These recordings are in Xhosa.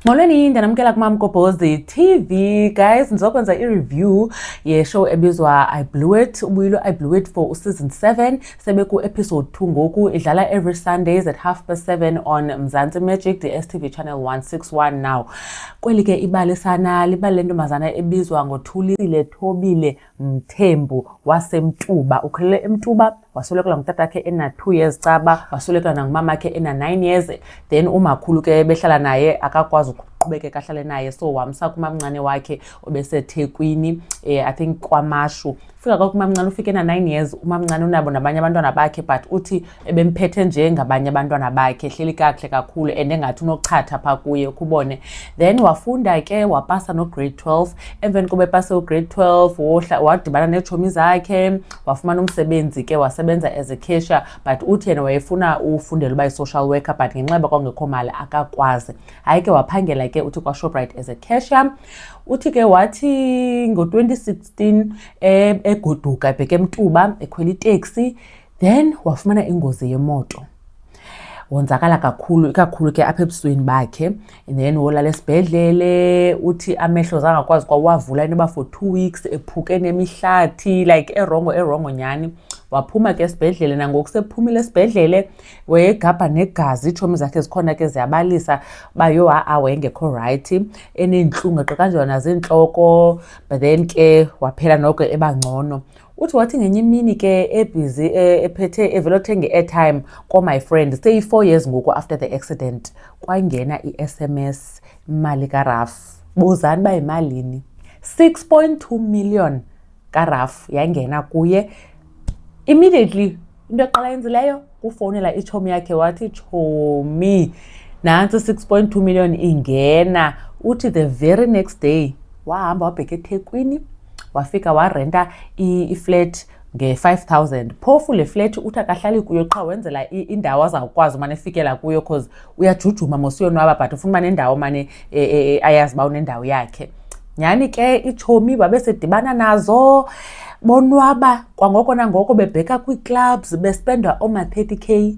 Molweni, ndiyanamkela kumamgobhozi the TV. Guys, ndizokwenza i-review yeshow ebizwa I Blew It. Ubuyilo I Blew It for season 7 sebeku-episode 2 ngoku. Idlala every Sundays at half past 7 on Mzansi Magic, the STV channel 161 now. Kweli ke ibali sana, libali lentombazana ebizwa ngoThulisile Thobile. Mthembu waseMtuba ukhulele eMtuba waswelekela ngutatakhe ena-two years caba waswelekela nangumamakhe ena-nine years then umakhulu ke behlala naye akakwazi ukuqhubekeka ahlale naye so wamsa kumamncane wakhe obesethekwini eh, i think kwamashu fika kwakumamncane ufike ena-nine years umamncane unabo nabanye abantwana bakhe but uthi ebemphethe nje ngabanye abantwana bakhe hleli kakuhle kakhulu and engathi unochatha phaa kuye ukubone then wafunda ke wapasa nograde 12 emveni koba epase ugrade 12 wohla wadibana neetshomi zakhe wafumana umsebenzi ke wasebenza as a cashier but uthi yena wayefuna ufundela uba yi-social worker but ngenxa yoba kwangekho mali akakwazi hayi ke waphangela ke uthi kwashoprite as a cashier uthi ke wathi ngo-2016 e, egoduka ebheke emtuba ekhwela iteksi e then wafumana ingozi yemoto wonzakala kakhulu ikakhulu ke apha ebusweni bakhe and then wolala esibhedlele uthi amehlo zangakwazi kwawavula inoba for two weeks ephuke nemihlathi like erongo erongo nyhani waphuma ke esibhedlele nangoku sephumile esibhedlele wayegabha negazi iitshomi zakhe zikhona ke ziyabalisa uba yho ha-a wayengekho rayithi eneentlungu eqekanjwa naziintloko but then ke waphela noko ebangcono uthi wathi ngenye imini ke ebhizi e, ephethe evele othenga i-airtime komy friend seyi-four years ngoku after the accident kwangena i-s m s imali karaf buzani uba yimalini six point two million karaf yangena kuye immediately into eqala yenzileyo kufowunela itshomi yakhe wathi tshomi nantsi 6.2 million ingena uthi the very next day wahamba wabheka ethekwini wafika warenta iflat nge-5000 phofu le flat uthi akahlali kuyo qha wenzela indawo azawukwazi umane efikela kuyo cause uyajujuma mos uyonwaba but ufuna uba nendawo mane e, e, e, ayazi uba unendawo yakhe nyhani ke itshomi babesedibana nazo bonwaba kwangoko nangoko bebheka kwii-clubs bespenda ooma-thirty k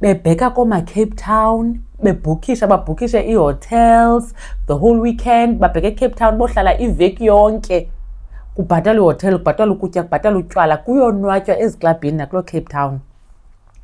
bebheka koomacape town bebhukisha babhukishe ii-hotels the whole weekend babheke ecape town bohlala iveki yonke kubhatalwa ihotel kubhatalwa ukutya kubhatalwa utywala kuyonwatywa eziklabhini nakuloo cape town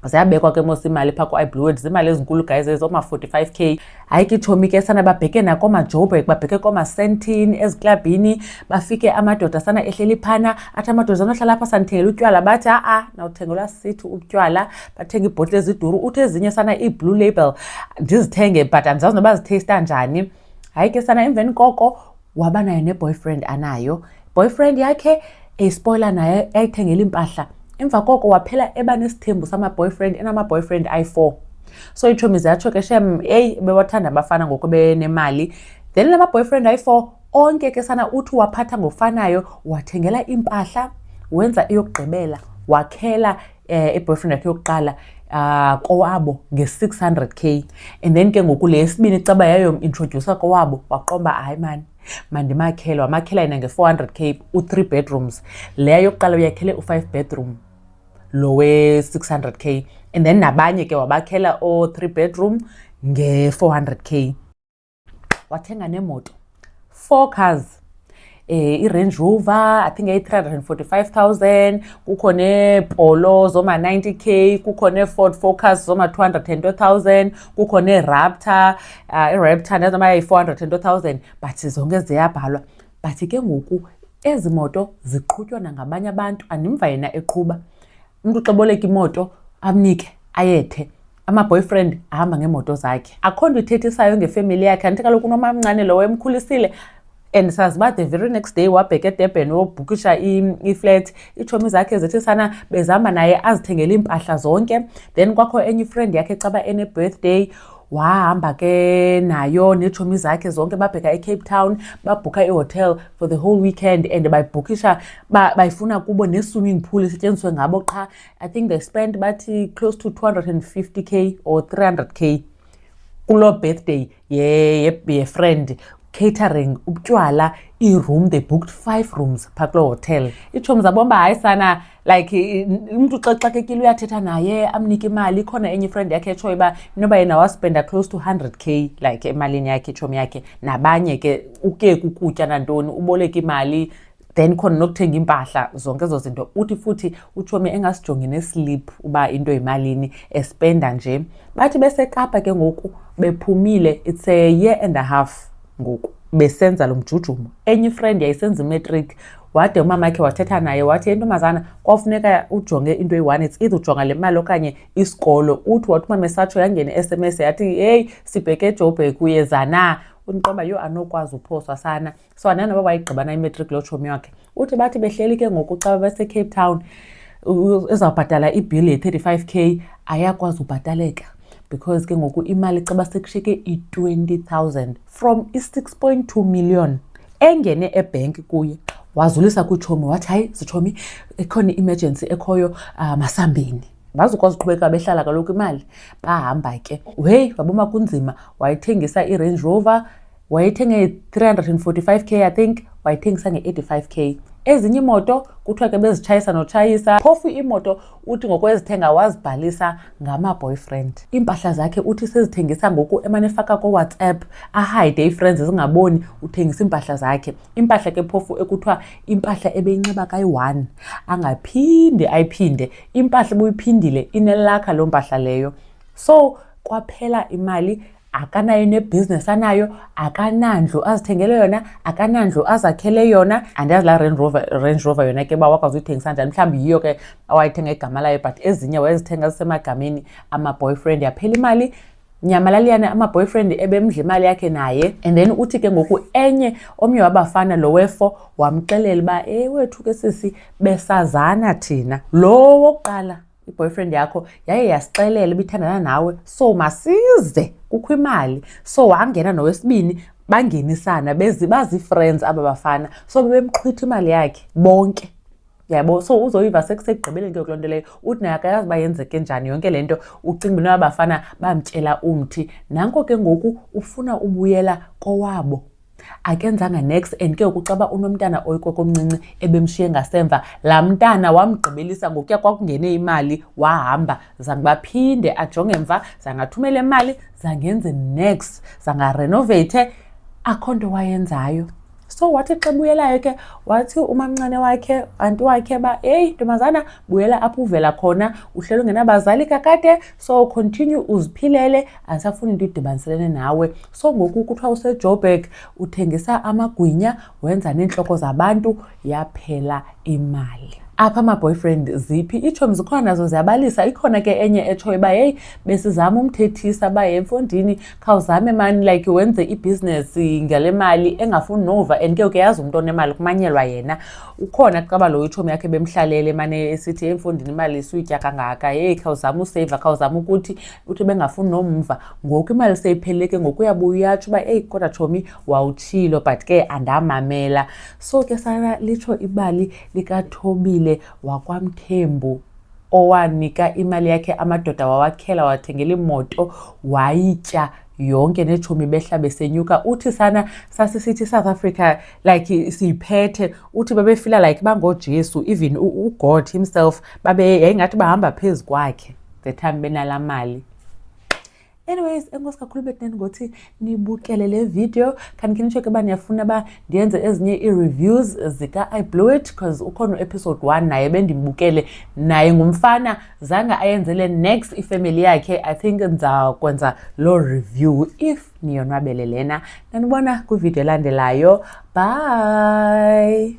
ziyabekwa ke mos imali phaa ku-ibluwed ziimali ezinkulu guys ezo ma-45 k hayi ke itshomi ke sana babheke nakoomajoburg babheke koomasentini eziklabhini bafike amadoda sana ehleli phana athi amadoda anohlala apha sandithengela utywala bathi a-a nawuthengelwa sithi utywala bathenga iibhotile eziduru uthi ezinye sana ii-blue label ndizithenge but andizazi noba zitheyista njani hayi ke sana emveni koko waba nayo neboyfriend anayo boyfriend yakhe eyispoyila naye yayithengela iimpahla emva koko waphela eba nesithembu sama-boyfriend enama-boyfriend ayi-four so itshomi zatsho ke shem eyi bewathanda abafana ngoku benemali then la ma-boyfriend ayi-four onke ke sana uthi waphatha ngofanayo wathengela iimpahla wenza eyokugqibela wakhela eh, iboyfriend yakhe yokuqala uh, kowabo nge-600 k and then ke ngoku le yesibini caba yayomintrodyusa kowabo waqomba hayi mani mandimakhele wamakhela yena nge-400 k u-three bedrooms leya yokuqala uyakhele u-five bedroom lo we-600 k and then nabanye ke wabakhela o-three bedroom nge-400 k wathenga neemoto four cars eh iRange Rover i think ayi-345,000 kukho neepolo zoma-90k kukho nee-ford focus zoma-202,000 kukho nee-raptor uh, ah, iraptor nezoma yayi-402,000 but zonke ziyabhalwa but ke ngoku ezi moto ziqhutywa nangabanye abantu andimva yena eqhuba umntu uxeboleka imoto amnike ayethe amaboyfriend ahamba ngeemoto zakhe akho nto ithethisayo ngefemeli yakhe andithi kaloku unomamncane lowo emkhulisile and sazi uba the very next day wabheke edurban wobhukisha iflat iitshomi zakhe zithi sana bezihamba naye azithengele iimpahla zonke then kwakho enye ifriend yakhe caba ene-birthday wahamba ke nayo neetshomi zakhe zonke babheka ecape town babhukha ihotel for the whole weekend and bayibhukisha bayifuna kubo ne-swimming pool isetyenziswe ngabo qha i think they spent bathi close to 250 k or 300 k kuloo birthday yefriend ye, ye catering ubutywala iroom they booked five rooms phaa kuloo hotel iitshomi zabomba hayi sana like umntu xa xakekile uyathetha naye amnike imali ikhona enye ifriend yakhe etshoyo uba inoba yena waspenda close to 100 k like emalini yakhe itshomi yakhe nabanye ke uke kukutya nantoni uboleka imali then khona nokuthenga iimpahla zonke ezo zinto uthi futhi utshomi engasijongi neslip uba into yimalini espenda nje bathi besekapa ke ngoku bephumile it's a year and a half ngoku besenza lo mjujumo enye ifriend yayisenza imatric wade umama wakhe wathetha naye wathi intombazana kwafuneka ujonge into eyi-one it's either ujonga le mali okanye isikolo uthi wathi umama esatsho yangene i-sms yathi heyi sibheke ejobhek uyeza na uniqoba yho anokwazi uphoswa sana so anani noba wayigqibana imatric loo tshomi wakhe uthi bathi behleli ke ngoku xa babesecape town ezawubhatala ibhili ye-35 k ayakwazi ubhataleka because ke ngoku imali xa basekushiyeke i-20 000 from i-6 2 million engene ebhenki kuye wazulisa kutshomi wathi hayi zitshomi ekhona i-emergency ekhoyo uh, masambeni bazukwazi uqhubeka behlala kaloku imali bahamba ke weyi waboma kunzima wayithengisa irange rover wayethenge 345 k i think wayithengisa nge-85 k ezinye iimoto kuthiwa ke bezitshayisa notshayisa phofu iimoto uthi ngokwezithenga wazibhalisa ngama-boyfriend iimpahla zakhe uthi sezithengisa ngoku emane efaka kowhatsapp ahide ii-friends zingaboni uthengisa iimpahla zakhe impahla ke phofu ekuthiwa impahla ebeyinxiba kayi-one angaphinde ayiphinde impahla ebuyiphindile inelakha loo mpahla leyo so kwaphela imali akanayo nebhizinesi anayo akanandlu azithengele yona akanandlu azakhele yona andiyazi laa range rover, range rover yona ke uba wakwazi uyithengisa njani mhlawumbi yiyo ke awayithenga igama layo but ezinye wayezithenga zisemagameni ama-boyfriend yaphela imali nyamalaliyane ama-boyfriend ebemdla imali yakhe naye and then uthi ke ngoku enye omnye wabafana lo wefo wamxelela uba ewethu ke sisi besazana thina lo wokuqala i-boyfriend yakho yaye yasixelela ibithandana nawe so masize kukho imali so wangena nowesibini bangenisana bezi bazii-friends aba bafana so bebemqhwitha imali yakhe bonke yabo so uzoyiva sekusekugqibeleni ke kuloo nto leyo uthi naye akayazi uba yenzeke njani yonke le nto ucinga uba nabafana bamtyela umthi nanko ke ngoku ufuna ubuyela kowabo akenzanga nex and ke ngoku caba unomntana oyikokomncinci ebemshiye ngasemva laa mntana wamgqibelisa ngokuya kwakungene imali wahamba zange baphinde ajonge mva zangathumela imali zangenze nex zangarenovathe akho nto wayenzayo so wathi xa buyelayo ke wathi umamncane wakhe anti wakhe ba eyi ntombazana buyela apho uvela khona uhleli ungenabazali kakade so continue uziphilele andisafuni into idibaniselene nawe So ngoku kuthiwa usejoburg uthengisa amagwinya wenza neentloko zabantu yaphela imali apha ama-boyfriend ziphi iitshomi zikhona nazo ziyabalisa ikhona ke enye etshoyo uba heyi besizama umthethisa uba ye mfondini khawuzame mani like wenze ibhizinesi ngale mali engafuni nova and ke uke yazi umntu onemali kumanyelwa yena ukhona kucaba lowo itshomi yakhe bemhlalele mane esithi emfondini imali suyitya kangaka heyi khawuzame useyiva khawuzame ukuthi uthi bengafuni nomva ngoku imali seyipheleke ngoku uyabuya uyatsho uba eyi kodwa tshomi wawutshilo but ke andamamela so ke sala litsho ibali likathobile wakwamthembu owanika imali yakhe amadoda wawakhela wathengela imoto wayitya yonke netshomi behla besenyuka uthi sana sasisithi isouth africa like siyiphethe uthi babefila like bangojesu even ugod himself babe yayingathi bahamba phezu kwakhe the time benala mali anyways enkosi kakhulu betneni ngothi nibukele le video khanikhe nitsho ke uba niyafuna uba ndiyenze ezinye ii-reviews zika-i blew it because ukhona u-episode one naye bendimbukele naye ngumfana zange ayenzele next ifemeli yakhe i think ndizakwenza loo review if niyonwabele lena. Nanibona kwividiyo elandelayo. Bye!